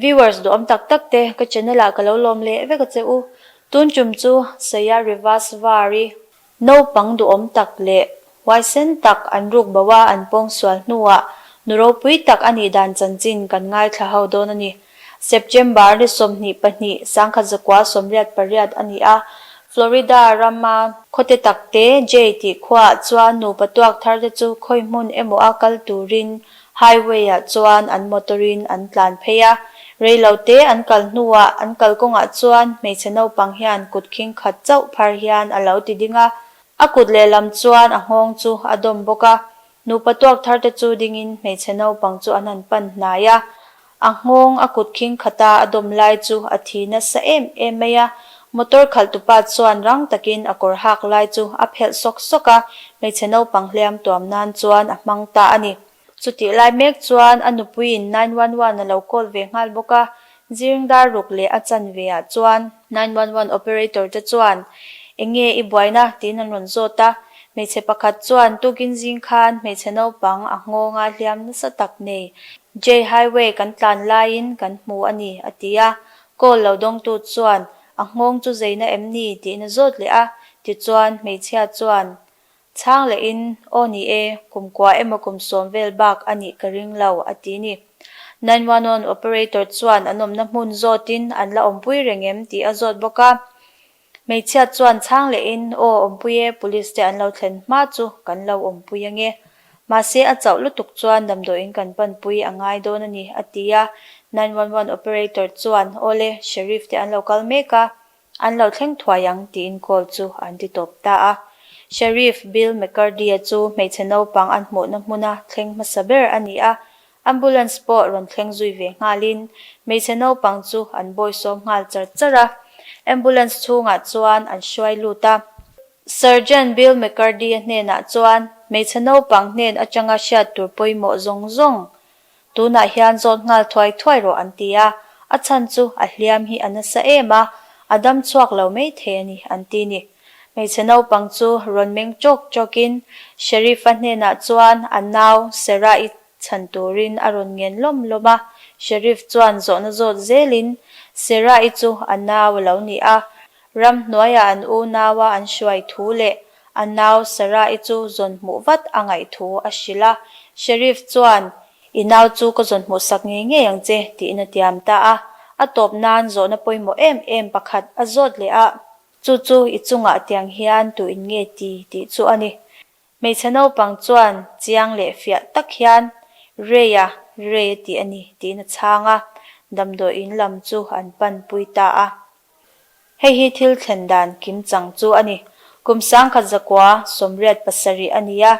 Viewers duhawm tak tak te ka channel ah ka lo lawm leh vek a che u. Tun tum chu Saya Rivasvari naupang duhawm tak leh huaisen tak an ruk bo a an pawng sual hnu ah nu ropui tak a nih dan chanchin kan ngaithla ho dawn a ni. September ni sawmhnih pahnih sangkhat zakua sawmriat pariat a ni a Florida ram a, khawte tak te Jay tih khuaah chuan nupa tuak thar te chu khawihmun emaw a kal turin Highway ah chuan an motor in an tlan phei a, reilo te an kal hnu ah an kal kawng ah chuan hmeichhe naupang hian kut khing khat chauh phar hian alo ti ding a, a kut leh lam chuan a nghawng chu a dawm bawk a, nupa tuak thar te chu ding in hmeichhe naupang chu an han pan hnai a, A nghawng a kut khingkhat a, a dawm lai chu a thi nasa em em mai a. Motor khalh tupa chuan rang takin a kawr hak lai chu a phelh sawk sawk a, hmeichhe naupang hliam tuam nan chuan a hmang ta a ni. Chutih lai mek chuan a nupuiin nine one one a lo call ve nghal bawk a, zirng dar ruk leh a chanve ah chuan. Nine One One operator te chuan Enge i buaina? tiin an rawn zawt a, hmeichhe pakhat chuan Tukin zing khan hmeichhe naupang a nghawngah hliam nasa tak nei. Jay highway kan tlan laiin kan hmu a ni, a ti a, call lo dawngtu chuan A nghawng chu zeina em ni? tiin a zawt leh a, tichuan hmeichhia chuan Chhang leh in, Aw ni e, kum kua emaw kum sawm vel bak a nih ka ring lo, a ti ni. Nine one one operator chuan an awmna hmun zawt in an la awmpui reng em tih a zawt bawk a. Hmeichhiat chuan chhang leh in, Aw awmpui e, police te an lo thlen hma chu kan lo awmpui ange. Mahse a chauh lutuk chuan damdawi in kan panpui a ngai dawn a ni, a ti a. Nine one one operator chuan, Aw le, sheriff te an lo kal mek a, An lo thleng thuai ang tiin call chu an ti tawp ta a. Sheriff Bill McCurdy-a chu hmeichhe naupang an hmuhna hmuna thleng hmasa ber a ni a, ambulance pawh rawn thleng zui ve nghalin hmeichhe naupang chu an bawi sawm nghal char char a. Ambulance chhungah chuan an hruai lut a. Sergeant Bill McCurdy-a hnenah chuan hmeichhe naupang hnen atanga hriat tur pawimawh zawng zawng Tunah hian zawt nghal thuai thuai rawh an ti a, a chhan chu a hliam hi a nasa em a, a dam chhuak lo maithei a ni an ti ni. Hmeichhe naupang chu rawn meng chawk chawkin Sheriff-a hnenah chuan a nau Sarah-i chhan turin a rawn ngen lawm lawm a, Sheriff chuan zawhna zawt zelin, Sarah-i chu a nau a lo ni a, ram hnuaiah an unaua an hruai thu leh A nau Sarai chu zawn hmuh vat a ngaih thu a hrilh a. Sheriff chuan, I nau chu ka zawn hmuh sak ngei ngei ang che, tiin a tiam ta a. A tawp nan zawhna pawimawh em em pakhat a zawt leh a, chu chu i chungah tiang hian tu in nge ti tih chu a ni. Hmeichhe naupang chuan chiang leh fiah tak hian, Rei a, rei a tih a ni, tiin a chhang a. Damdawiin lam chu an pan pui ta a. Hei hi thil thlen dan kim chang chu a ni. Kum sangkhat zakua sawmriat pasarih a ni a,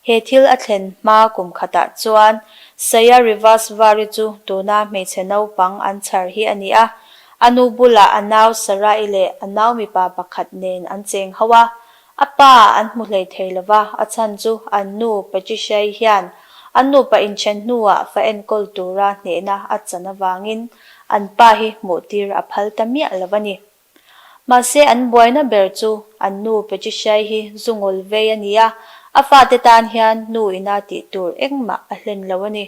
he thil a thlen hma kum khatah chuan Saya Rivas Vary chu tuna hmeichhe naupang an chhar hi a ni a. A nu bulah a nau Sarai leh a nau mipa pakhat nen an cheng ho a, A pa an hmu hlei thei lo va, a chhan chu an nu Patricia-i hian an nupa inthen hnuah fa enkawl tura hnehna a chan avangin an pa hi hmuhtir a phal ta miah lo a ni. Mahse, an buaina ber chu an nu Patricia-i hi zu ngawl vei a ni a, a fate tan hian nu ina tih tur engmah a hlen lo a ni.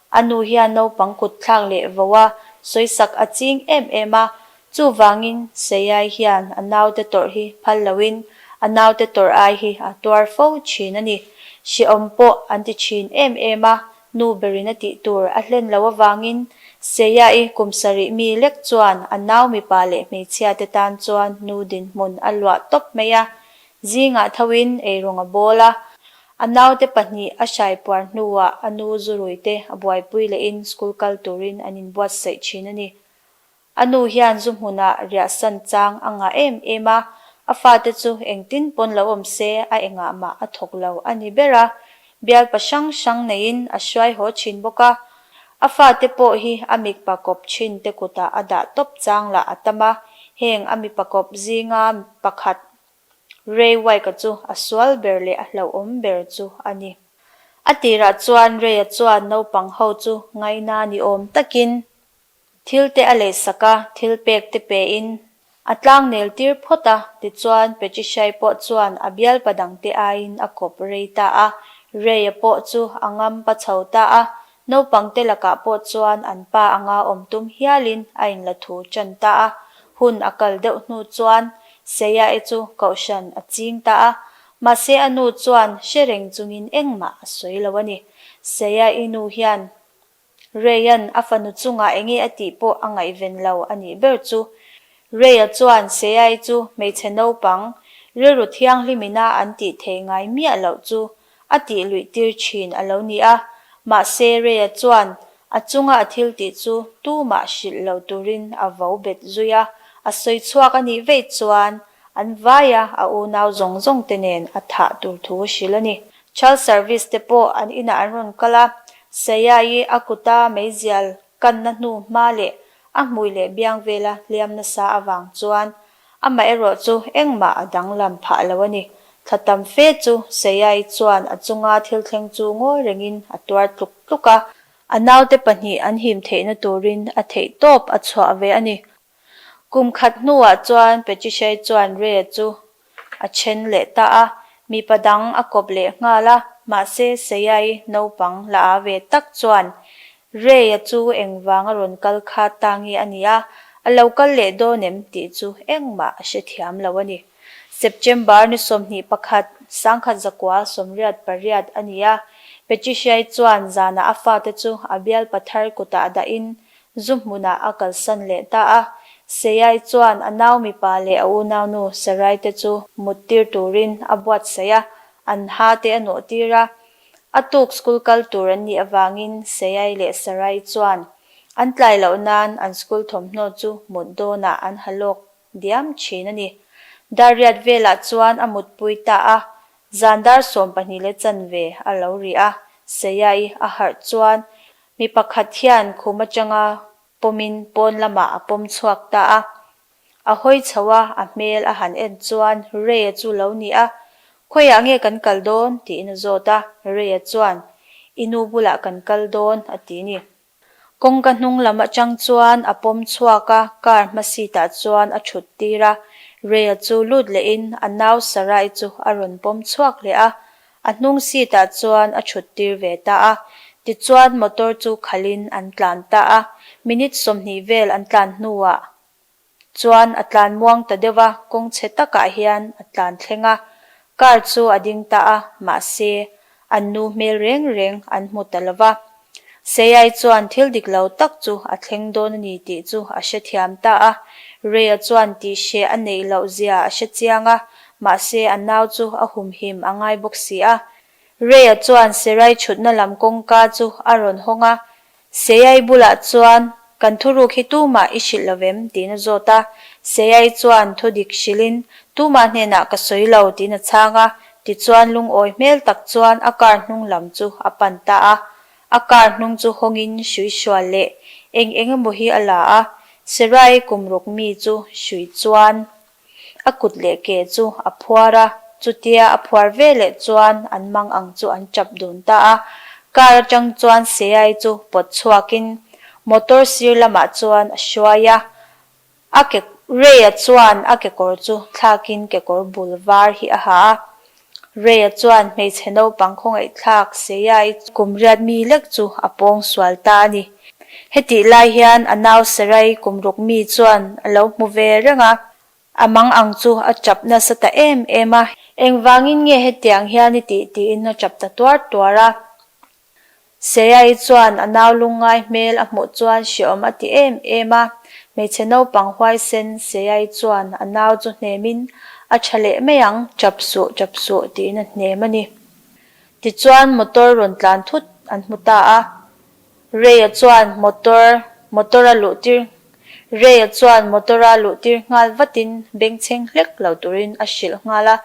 A nu hian naupang kut thlak leh vo a sawisak a ching em em a, chuvangin Seiai hian a naute tawrh hi phal loin a naute tawrh ai hi a tuar fo thin a ni. Siawm pawh an ti thin em em a, nu berina tih tur a hlen lo avangin Seiai kum sarih mi lek chuan a nau mipa leh hmeichhia te tan chuan nu dinhmun a luah tawp mai a, zingah thoin ei rawng a bawl a, A naute pahnih a hrai puar hnuah a nu Zu Ruite a buaipui leh in school kal turin an in buatsaih thin a ni. A nu hian Zu hmunah riahsan chang a ngah em em a, a fate chu engtin pawn lo awm se a engah mah a thawk lo a ni ber a, bialpa hrang hrang neiin a hruai haw thin bawk a. A fate pawh hi a mikpa kawp thin te kutah a dah tawp chang lah a tam a, heng a mipa kawp zinga pakhat Ray Wike-a chu a sual ber leh a hlauhawm ber chu a ni. A tirah chuan Ray-a chuan naupang ho chu ngaina ni awm takin thil te a leh sak a, thil pek te pe in a tlang nel tir phawt a. Tichuan Patricia'i pawh chuan a bialpa dangte aiin a kawp rei ta a, Ray-a pawh chu a ngampa chho ta a, Naupangte lakah pawh chuan an pa anga awm tum hialin a in la thu ṭan ta a, hun a kal deuh hnu chuan Seia e chu kohhran a ching ta a, mahse a nu chuan hre reng chungin engmah a sawi lo a ni. Seia i nu hian Reyan a fanu chungah eng nge a tih pawh a ngaihven lo a nih ber chu. Reya chuan Seia i chu hmeichhe naupang rilru thianghlim ina an tih theih ngai miah loh chu a tih luih tir thin a lo ni a, mahse Reya chuan a chunga a thil tih chu tumah hrilh lo turin a vo bet zui a, a sawi chhuak a nih veih chuan an vaia a unau zawng zawng te nen a thah tur thu a hrilh a ni. Child Service te pawh an inah an rawn kal a, Seya-i a kuta meizial kanna hnu hma leh a hmui leh biang vela hliam nasa avang chuan Amah erawh chu engmah a danglam phah lo a ni. Thla tam fe chu Seiai chuan a chunga thil thleng chu ngawi rengin a tuar tluk tluk a. A naute pahnih an him theihna turin a theih tawp a chhuah ve a ni. Kum khat hnuah chuan Pechichai chuan Re chu a then leh ta a, mipa dang a kawp leh nghal a, mahse Seiai naupang la a ve tak chuan Ray-a chu engvanga rawn kal khat ta nge a nia, a lo kal leh dawn em tih chu engmah a hre thiam lo a ni. September ni sawmhnih pakhat, sangkhat zakua sawmriat pariat a ni a, Patricia-i chuan zanah a fate chu a bial pathar kutah dahin zu hmunah a kalsan leh ta a. Seia-i chuan a nau mipa leh a unaunu Sarai-te chu muttir turin a buatsaih a, an hate a nawhtir a. A tuk school kal tur an nih avangin Seyai leh Sarai chuan an tlai loh nan an school thawmhnaw chu mut dawnah an ha lawk diam thin a ni. Dariat velah chuan a mutpui ta a, zan dar sawm pahnih leh chanve a lo ri a. Seyai a harh chuan mi pakhat hian khum atanga pawmin pawn lamah a pawm chhuak ta a, A hawi chho a, a hmel a han en chuan Ray-a chu lo ni a, Khawiah nge kan kal dawn? tiin a zawt a, Ray-a chuan, I nu bulah kan kal dawn, a ti ni. Kawngka hnung lam atang chuan a pawm chhuak a, car hma seat-ah chuan a thut tir a, Ray-a chu lut lehin a nau Sarai chu a rawn pawm chhuak leh a, a hnung seat-ah chuan a thut tir ve ta a, tichuan motor chu khalhin an tlan ta a, minute sawmhnih vel an tlan hnuah chuan a tlan muang ta deuh a, kawng chhe takah hian a tlan thleng a, car chu a ding ta a, mahse, an nu hmel reng reng an hmu ta lo va, Seiai chuan thil dik lo tak chu a thleng dawn a ni tih chu a hre thiam ta a, Reia chuan tih hre a neih loh zia a hre chiang a, mahse a nau chu a humhim a ngai bawk si a, Ray-a chuan Serai chhutna lam kawngka chu a rawn hawng a, Seai bulah chuan, Kan thuruk hi tumah i hrilh lovem? tiin a zawt a, Seai chuan thu dik hrilhin, Tumah hnenah ka sawi lo, tiin a chhang a, tichuan lungawi hmel tak chuan a car hnung lam chu a pan ta a, a car hnung chu hawngin hrui hrual leh eng eng emaw hi a la a, Serai kum ruk mi chu hrui chuan a kut leh ke chu a phuar a, chutia a phuar ve leh chuan an mang ang chu an tap dun ta a, car atang chuan Seai chu pawt chhuakin motor sir lamah chuan a hruai a, a kekawr Ray-a chuan a kekawr chu thlakin kekawr bul var hi a ha a, Ray-a chuan hmeichhe naupang khawngaihthlak Seya-i kum riat mi lek chu a pawng sual ta a ni. Hetih lai hian a nau Seray kum ruk mi chuan a lo hmu ve reng a, a mang ang chu a tap nasa ta em em a. Engvangin nge hetiang hian i tih tiin a tap ta tuar tuar a? Seaii chuan a nau lung ngai hmel a hmuh chuan hreawm a ti em em a, hmeichhe naupang huaisen Seaii chuan a nau chu hnemin a tha leh mai ang chap suh chap suh tiin a hnem a ni. Tichuan motor rawn tlan thut an hmu ta a, Reia chuan motor motor a luh tir Reia chuan motor a luh tir nghal vatin bengchheng hlek lo turin a hrilh nghal a,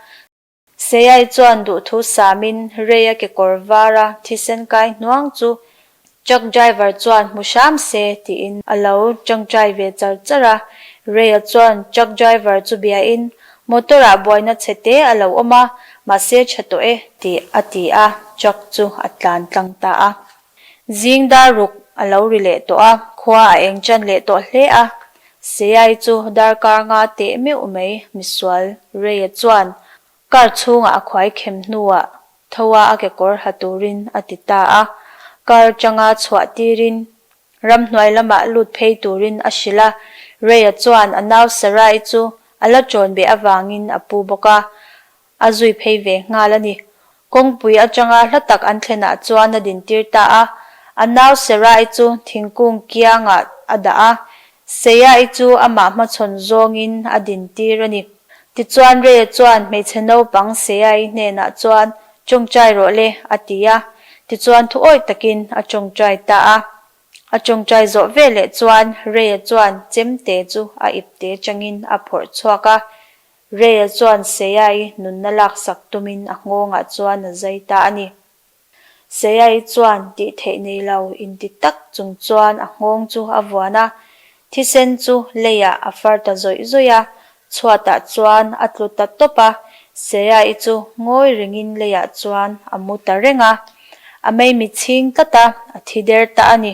Seiai chuan duhthu samin Reia kekawr vara thisen kai hnuang chu truck driver chuan hmu hram se tiin a lo tangtai ve char char a. Reia chuan truck driver chu biain motor ah buaina chhe te a lo awm a, mahse tha tawh e. Tih a ti a, truck chu a tlan tlang ta a. Zing dar ruk a lo ri leh tawh a, khua a eng chan leh tawh hle a, Seiai chu dar kar nga teh meuh mai Misual Reia chuan kar chhungah a khuai khem hnuah thoa a kekawr ha turin a ti ta a, kar changa chhuah tirin ramhnuai lamah lut phei turin a hrilh a, Reia chuan a nau Sarai chu a la chawn beh avangin a pu bawk a, A zui phei ve nghal a ni. Kawngpui atanga hla tak an thlenah chuan a din tir ta a. A nau Serai chu thingkung kiangah a dah a. Seiai chu amah hmachhawn zawngin a din tir a ni. Tichuan Reia chuan hmeichhe naupang Seiai hnenah chuan, Tawngtai rawh le, a ti a. Tichuan thu awih takin a tawngtai ta a. A tawngtai zawh ve leh chuan Reia chuan chemte chu a ipte changin a phawrh chhuak a. Rayya chuan Seyai nunna laksak tumin a nghawngah chuan a zai ta a ni. Seyai chuan tih theih nei lo inti tak chung chuan a nghawng chu a vuan a, thisen chu Lei-a a far ta zawih zawih a, chhuatah chuan a tlu ta tawp a, Seyai chu ngawi rengin Lei-a chuan a mu ta reng a, a meimi chhing tlat a, a thi der ta a ni.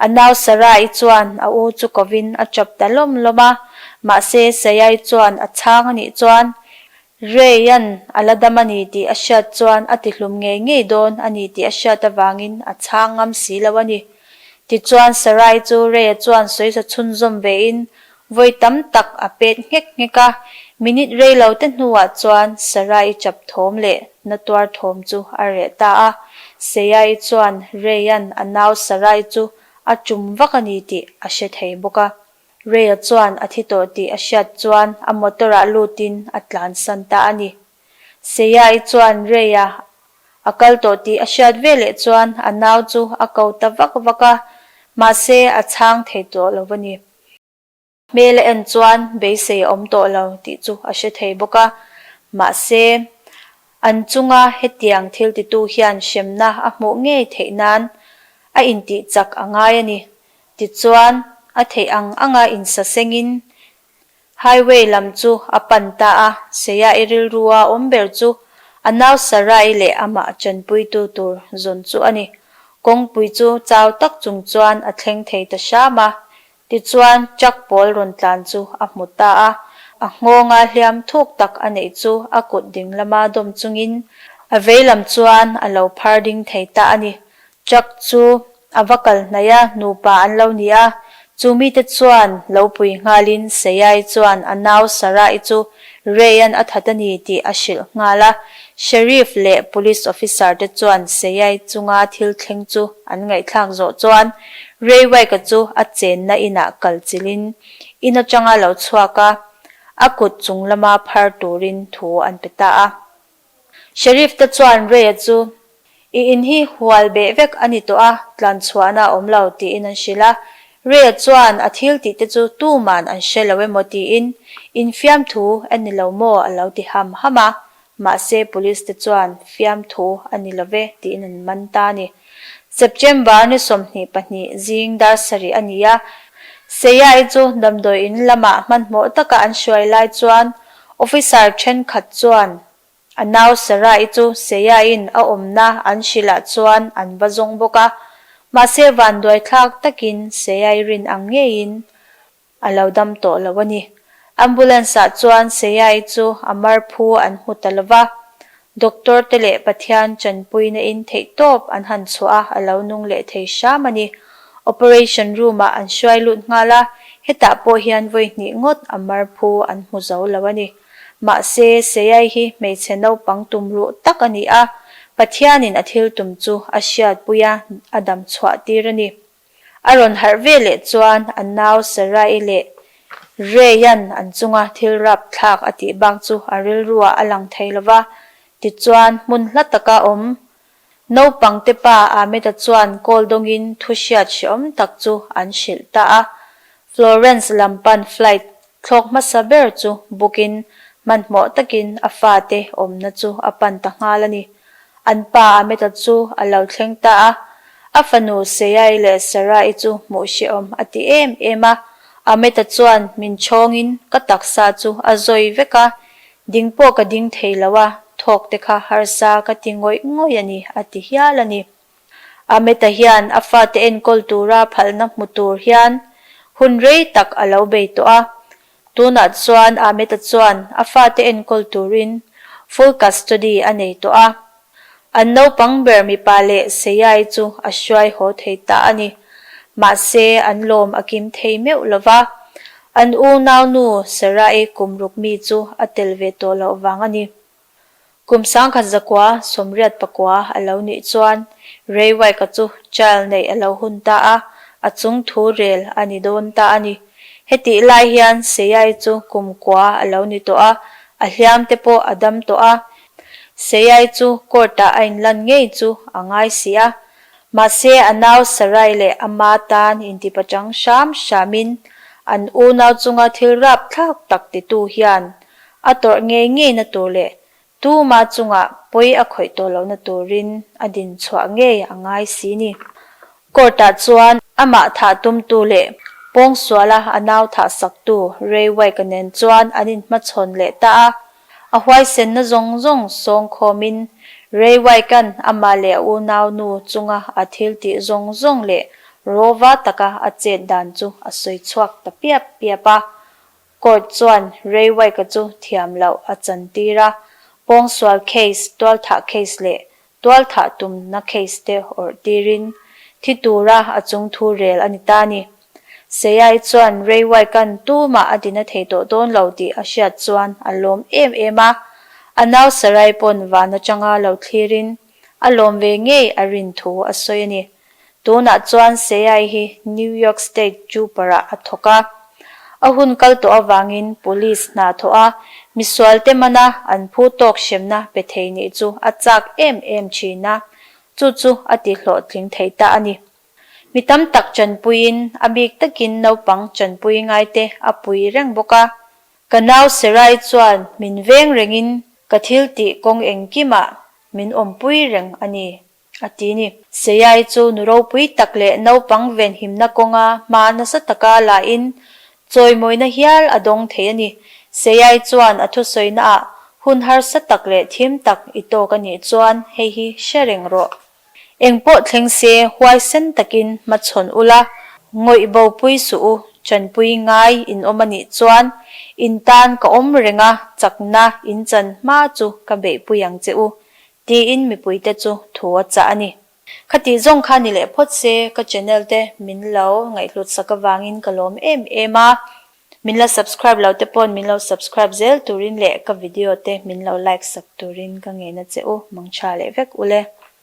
A nau Sarai chuan a u chu kovin a chawp ta lawm lawm a, mahse Saiai chuan a chhang a nih chuan, Reian a la dam a ni tih a hriat chuan a tihlum ngei ngei dawn a ni tih a hriat avangin a chhang ngam si lo a ni. Tichuan Sarai chu Reia chuan sawisa chhunzawm vein Vawi tam tak a pet nghek nghek a, minute rei lo te hnuah chuan Sarai chap thawm leh na tuar thawm chu a reh ta a. Seia-i chuan Reian a nau Sarai chu a tum vak a ni tih a hre thei bawk a. Reia chuan a thi tawh tih a hriat chuan a motor-ah lutin a tlan san ta a ni. Seia-i chuan Reia a kal tawh tih a hriat ve leh chuan a nau chu a ko ta vak vak a, mahse a chhang thei tawh lo a ni. Hmel a en chuan beisei a awm tawh lo tih chu a hre thei bawk a. Mahse, an chunga hetiang thiltitu hian hremna a hmuh ngei theih nan a intih chak a ngai a ni. Tichuan, a theih ang anga insasengin Highway lam chu a pan ta a, Seia i rilru a awm ber chu a nau Sarai leh a mah chanpuitu tur zawn chu a ni. Kawngpui chu chau tak chung chuan a thleng thei ta hram a, tichuan truck pawl rawn tlan chu a hmu ta a, a nghawngah hliam thuk tak a neih chu a kut ding lama dawm chungin a vei lam chuan a lo phar ding thei ta a ni. Truck chu A va kal hnaih a, Nupa an lo ni a. Chu mite chuan lo pui nghalin Seiai chuan a nau Sarai chu Reyan a that a ni tih a hrilh nghal a. Sheriff leh Police Officer te chuan Seiai chunga thil thleng chu an ngaihthlak zawh chuan Reywike-a chu a chenna inah kal chilhin in atanga lo chhuak a, a kut chung lama phar turin thu an pe ta a. Sheriff te chuan Ray-a chu, I in hi hual beh vek a ni tawh a, tlan chhuahna a awm lo, tiin an hrilh a. Ray-a chuan a thil tih te chu tuman an hre lo emaw tiin in fiamthu a ni lo maw a lo ti ham ham a, mahse Police te chuan fiamthu a ni lo ve tiin an man ta a ni. September ni sawmhnih pahnih zing dar sarih a ni a, Seia-i chu damdawiin lamah hmanhmawh taka an hruai lai chuan Officer thenkhat chuan, A nau Sarai chu Seia-in a awmna an hrilh ah chuan an va zawng bawk a, mahse vanduaithlak takin Seia-i rin ang ngeiin a lo dam tawh lo a ni. Ambulance ah chuan Seia-i chu a marphu an hmu ta lova, Doctor te leh Pathian chanpuina in theihtawp an han chhuah a, a lo nung leh thei hram a ni. Operation room ah an hruai lut nghal a, hetah pawh hian vawi hnih ngawt a mar phu an hmu zo lo a ni. Mahse, Seiai hi hmeichhe naupang tum ruh tak a ni a, Pathianin a thil tum chu a hriatpuia a dam chhuah tir a ni. A rawn harh ve leh chuan a nau Sarai leh Reayan an chunga thil rap thlak a tih bak chu a rilruah a lang thei lo va. Tichuan, hmun hla taka awm naupangte pa Ahmeda chuan kawldawngin thuhriat hreawm tak chu an hrilh ta a. Florence lam pan flight thlawk hmasa ber chu book in hmanhmawh takin a fate awmna chu a pan ta nghal a ni. An pa Ameta chu a lo thleng ta a, a fanu Seai leh Sarai chu hmuh hrehawm a ti em em a. Ameta chuan, Min chhawngin ka taksa chu a zawi vek a, ding pawh ka ding thei lo a, thawkte kha harsa ka ti ngawih ngawih a ni, a ti hial a ni. Ahmeta hian a fate enkawl tura phalhna hmu tur hian hun rei tak a lo bei tawh a. Tunah chuan Ahmeta chuan a fate enkawl turin full custody a nei tawh a. An naupang ber mipa leh Seiai chu a hruai haw thei ta a ni. Mahse an lawm a kim thei meuh lo va. An unaunu Serae kum ruk mi chu a tel ve tawh loh vang a ni. Kum sangkhat zakua sawmriat pakua a lo nih chuan Ray Wike-a chu trial neih a lo hun ta a, a chung thu rel a ni dawn ta a ni. Hetih lai hian Seiyai chu kum kua a lo ni tawh a, a hliam te pawh a dam tawh a. Seiyai chu court-ah a inlan ngei chu a ngai si a, mahse a nau Sarai leh a ma tan intipachang hram hramin an unau chunga thil rapthlak tak titu hian A tawrh ngei ngei na tur leh tuma chunga pawi a khawih tawh lo na turin a din chhuah ngei a ngai si ni. Court-ah chuan amah thah tum tu leh pawngsuala a nau thah sak tu Ray Wake-a nen chuan an in hmachhawn leh ta a. A huaisenna zawng zawng sawng khawmin Ray Wake-a'n ama leh a unau nu chunga a thiltih zawng zawng leh rawva taka a chet dan chu a sawi chhuak ta piap piap a. Court chuan Ray Wike-a chu thiam loh a chan tir a, pawngsual case, tualthah case leh tualthah tumna case te awrh tirin thi tura a chung thu rel a ni ta ni. Seiai chuan Ray Wike-a'n tumah a dina thei tawh dawn lo tih a hriat chuan a lawm em em a, a nau Sarai pawn van atanga lo thlirin a lawm ve ngei a rin thu a sawi a ni. Tunah chuan Seai hi New York State Juparah a thawk a, a hun kal tawh avangin Police hna thawh a misualte mana an phu tawk hremna pe thei nih chu a chak em em thin a, chu chu a tihlawhtling theih ta a ni. Mi tam tak chanpuiin a bik takin naupang chanpui ngaite a pui reng bawk a. Ka nau Serai chuan min veng rengin ka thil tih kawng engkimah min awmpui reng a ni. a ti ni. Seiai chu nu ropui tak leh naupang venhimna kawnga hma nasa taka lahin chawimawina hial a dawng thei a ni. Seiai chuan a thusawinaah hun harsa tak leh thim tak i tawk a nih chuan hei hi hre reng rawh. Engpawh thleng se huaisen takin hmachhawn u la, ngawih bopui suh u, chanpui ngai in awm a nih chuan in tan ka awm renga chakna in chan hma chu ka beihpui ang che u, Tiin mipui te chu thu a chah a ni. Khatih zawng kha ni leh phawt se ka channel te min lo ngaihhlut sak avangin ka lawm em em a. Min la subscribe lo te pawn min lo subscribe zel turin leh ka video te min lo like sak turin ka ngena che u, mangtha leh vek ule.